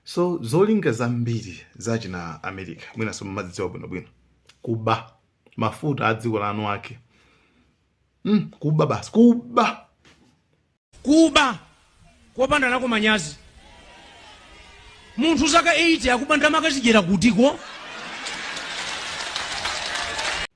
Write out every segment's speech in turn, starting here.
so zolinga zambiri za china america mwinanso mumazidziwa bwinobwino kuba mafuta a dziko lanu ake mm, kuba basi kuba kuba kopanda nako manyazi munthu zaka 80 akuba ndalama akazidyera kutiko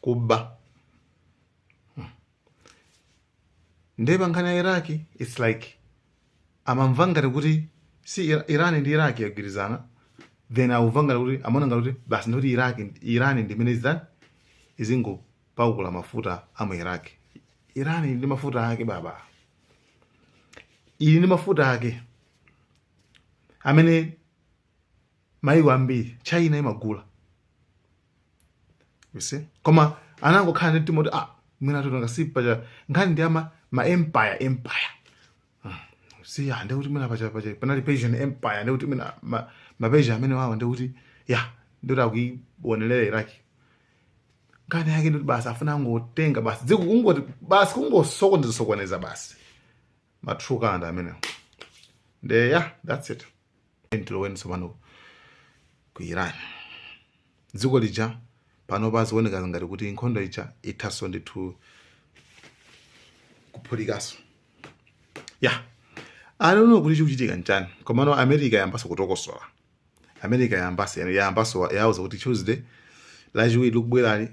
kuba ndiye pa nkhani ya iraq its like amamva ngati kuti si Ira- iran ndi iraq yagwirizana and akumva ngati kuti amaona ngati kuti basi ndikuti iraq iran ndimene izitani izingopakula mafuta a mu iraq iran ili ndi mafuta ake baba ili ndi mafuta ake amene maiko ambiri china imagula you see koma anangokhala ndi mtima kuti ah mwina tikutenga si pacha nkhani ndi ama ma empire empire Ah, si ya ndikuti mwina pacha pacha panali persian empire ndikuti mwina ma, ma persian amene wawo ndikuti ya ndikuti akuionelera iraki nkhani yake ndikuti basi afuna angotenga basi dziko kungoti basi kungosokoneza sokoneza basi ma troublemaker amenewo nde ya that's it tiyeni tiloweni tsopano ku iran dziko lija pano pazioneka ngati kuti nkhondo ija ithaso ndithu kuphulikaso ya yeah. I don't know kuti chikuchitika nchani komano america yambaso kutokosola america yambaso yambaso yauza kuti tuesday lachiwiri likubwerali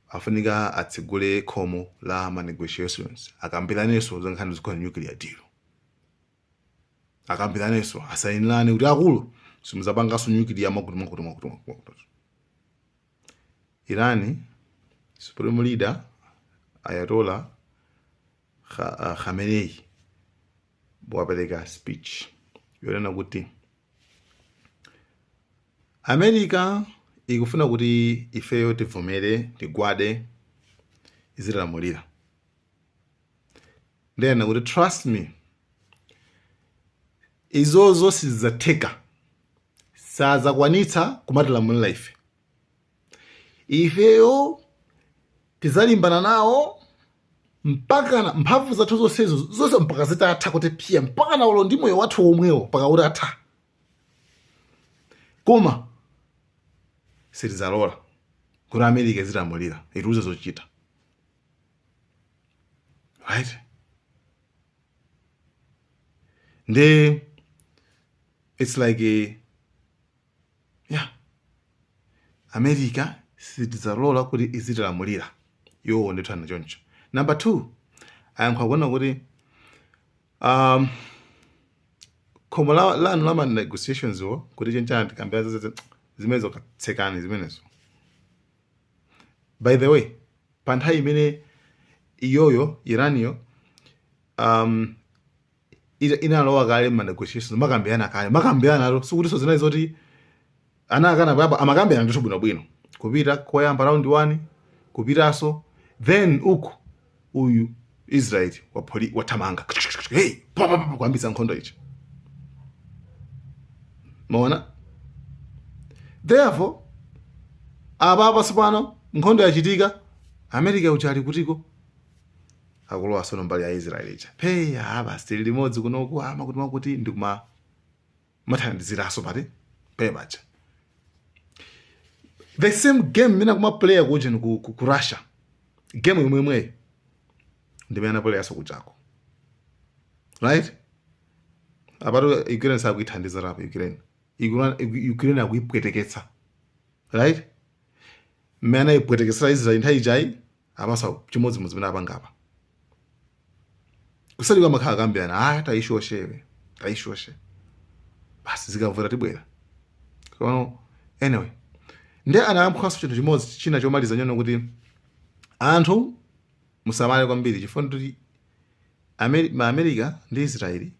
afunika atsegule khomo la ma negotiations akambiranenso za nkhani zokhudza nuclear deal akambiranenso asayinirane kuti akulu simudzapanganso nuclear mwakuti mwakuti mwakuti mwakuti mwakuti. irani supreme leader ayatollah Kha- ah, khamenei wapereka speech yonena kuti america ikufuna kuti ifeyo tivomere tigwade izitilamulira nde anena kuti trust me izozo sizidzatheka sadzakwanitsa kumatilamulira ife ifeyo tidzalimbana nawo mpaka mphamvu zathu zonsezo zonse mpaka zitatha kuti pye mpakana olo ndi moyo wathu womwewo mpaka utatha koma sitidzalola kuti america izitilamulira itiuze zochita right nde it's like a, yeah america sitidzailola kuti izitilamulira iwowo ndi kuthana choncho number two ayankha akunena kuti um, khomo la- lanu la ma negotiations wo kuti chenchana tikambira zimenezo katsekani zimenezo by the way pa nthawi imene iyoyo iraniyo um, ita- inalowa kale ma negotiations makambirana kale makambiranatu sikutinso zinali zoti anaakana apapa amakambirana ndithu bwinobwino kupita koyamba round one kupitanso then uku uyu israeli wapholi wathamanga hey papapapa kuyambitsa nkhondo ija mwaona therefore apa apa tsopano nkhondo yachitika america uja ali kutiko akulowa sono mbali ya israeli ija peya basi tili limodzi kunoku ama kuti makuti ndikuma mathandiziranso paja the same game mmene ankapleyera kujeni ku, ku, ku Russia game yomwe yomweyo ndi mmene anapleyeranso kujako right apatu Ukraine sakuithandiza rapo Ukraine Ukraine akuipweteketsa right mmene anaipweteketsera Israel nthawi ijayi basi chimodzimodzi zimene apanga apa kuseri kumakhala akambirana ah tayishoshe iwe tayishoshe basi zikavuta tibwera kono anyway nde anayankhanso chinthu chimodzi china chomaliza nyono kuti anthu musamale kwambiri chifukwa akuti America ndi israeli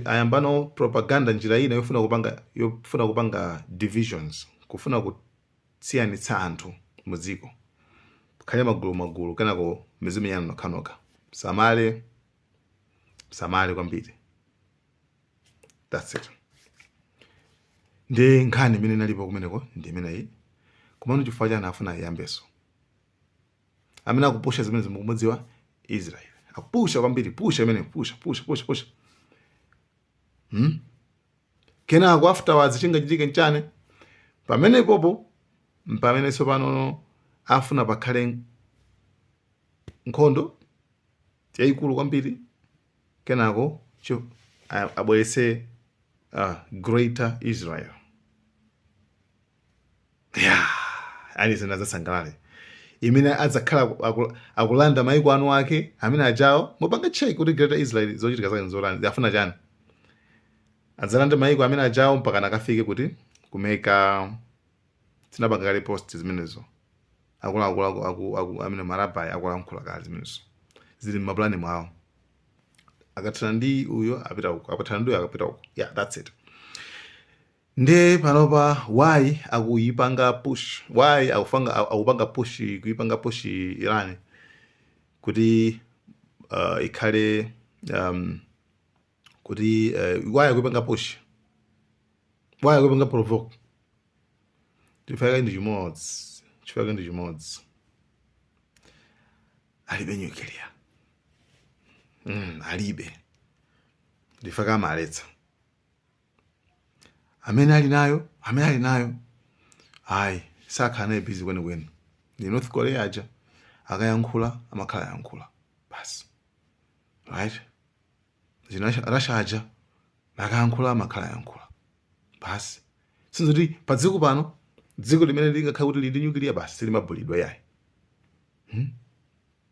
ayambano propaganda njira ina yofuna kupanga yofuna kupanga divisions kufuna ku siyanitsa anthu mu dziko mukhale magulu magulu kenako mizimenyana nokhanokha musamale musamale kwambiri that's it ndi nkhani imene inalipo kumeneko ndi imeneyi komano chifukwa chani afuna iyambeso amene akupusha zimenezi mukumudziwa israel akupusha kwambiri pusha imene pusha pusha pusha pusha hmm? kenako afterwards chingachitike nchani pamenepopo mpamene tsopanono afuna pakhale nkhondo yayikulu kwambiri kenako cho- a- abweretse uh, greater israel ya aliyense sadzasangalala imene adzakhala aku- aku- akulanda maiko anu ake amene ajawo mupanga check kuti greater israel zochitika zake nzotani zafuna chani adzalanda maiko amene achawo mpaka akafike kuti ku Mecca tinapanga kale post zimenezo akuluakulu aku- aku- aku- amene marabai akulankhula kale zimenezo zili mmapulani mwawo akathana ndi uyo apita uko akathana ndi uyo akapita uko yeah that's it Nde panopa why akuyipanga push why akupanga akupanga push kuyipanga push Iran kuti uh, ikhale um, kuti uh, why akuyipanga push why akuyipanga provoke chifukwa ndi chimodzi chifukwa ndi chimodzi alibe nyukiliya mm, alibe ndiye akamaletsa amene ali nayo amene ali nayo ayi sakhala naye bizi kwenikweni ndi north korea aja akayankhula amakhala ayankhula basi right zina Russia aja akayankhula amakhala ayankhula basi sinzoti pa dziko pano dziko limene lingakhale kuti lili ndi nyukiliya basi silimaputidwa yayi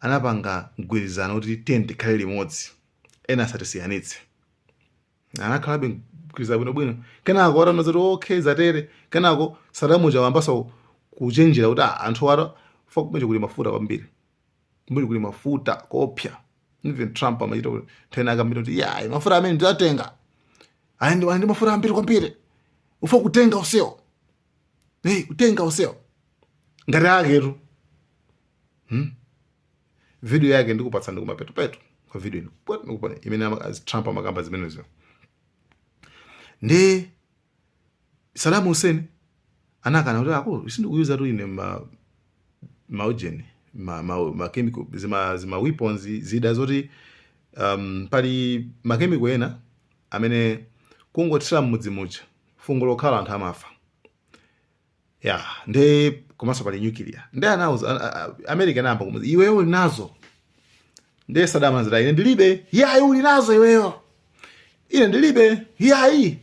anapanga mgwirizano kuti tiyeni tikhale limodzi, ena asatisiyanitse. Anakhalabe mgwirizano bwinobwino. Kenako ataona zoti okay zatere, kenako Saddam uja wayambanso kuchenjera kuti "Ah, anthu awa afuna kumene kuli mafuta kwambiri. Kumene kuli mafuta koopsa. Even Trump amachita kuti nthawi ina akamba kuti yeah, mafuta amene ndiwatenga. Aya ndi aya ndi mafuta ambiri kwambiri. Ufuna kutenga Museo. hey, kutenga Museo ngati aketu hmm? video yake ndikupatsa ndi kumapetopeto kwa video ino ndikuponyera imene trump amakamba zimenezo nde Saddam Hussein anakana kuti akulu sindikukuuza tu ine ma maujeni ma, ma, ma chemical zima, zima weapons zida zoti um, pali makemiko ena amene kungothira mmudzi muja fungo lokhalo anthu amafa ya nde komanso pali nyukiliya nde anauza a- a- a- america anayamba kumuza iweyo uli nazo nde Saddam anati ine ndilibe yayi uli nazo iweyo ine ndilibe yayi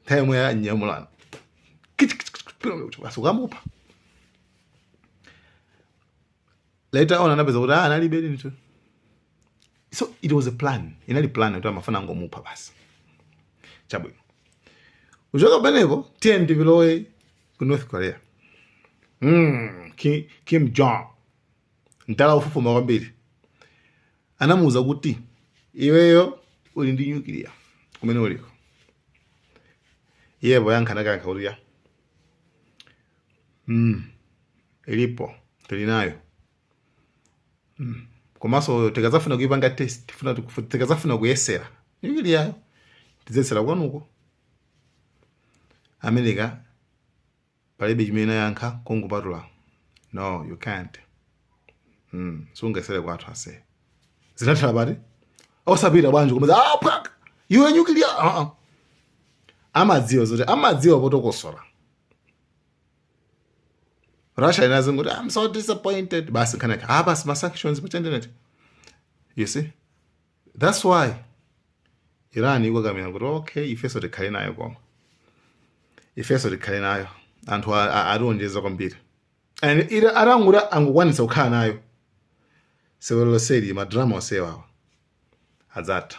nthawi yomwe anyamulana basi kukamupha later on anapeza kuti "Ah, analibe ndithu so it was a plan inali plan kuti amafuna angomupha basi chabwino kuchoka pamenepo tiyeni tilowe ku north korea mm, kim, kim jong atamufufuza kwambiri anamuwuza kuti iweyo uli ndi nyukiliya kumene uliko iye poyankha anangoyankha kuti ya mm, ilipo tili nayo mm. komanso tikazafuna kuipanga test tifuna tiku- tikazafuna kuyesera nyukiliyayo tidzayesera kwanuko america palibe chimene anayankha kungopatula no you can't mm. sungayesere kwathu ase zinathala bwanji osapita bwanji kumeza ah, pwak! iwe nyukiliya uh -uh. amadziwa zoti amadziwa potokosola russia inazangoti i'm so disappointed basi nkhani yake ah basi ma-sanctions pachandenete you see that's why iran ikukakamira kuti okay ifeso tikhale nayo koma ifeso tikhale nayo anthu ationjeza kwambiri and iran atangoti angokwanitsa kukhala nayo sewero loseli madrama osewawa adzatha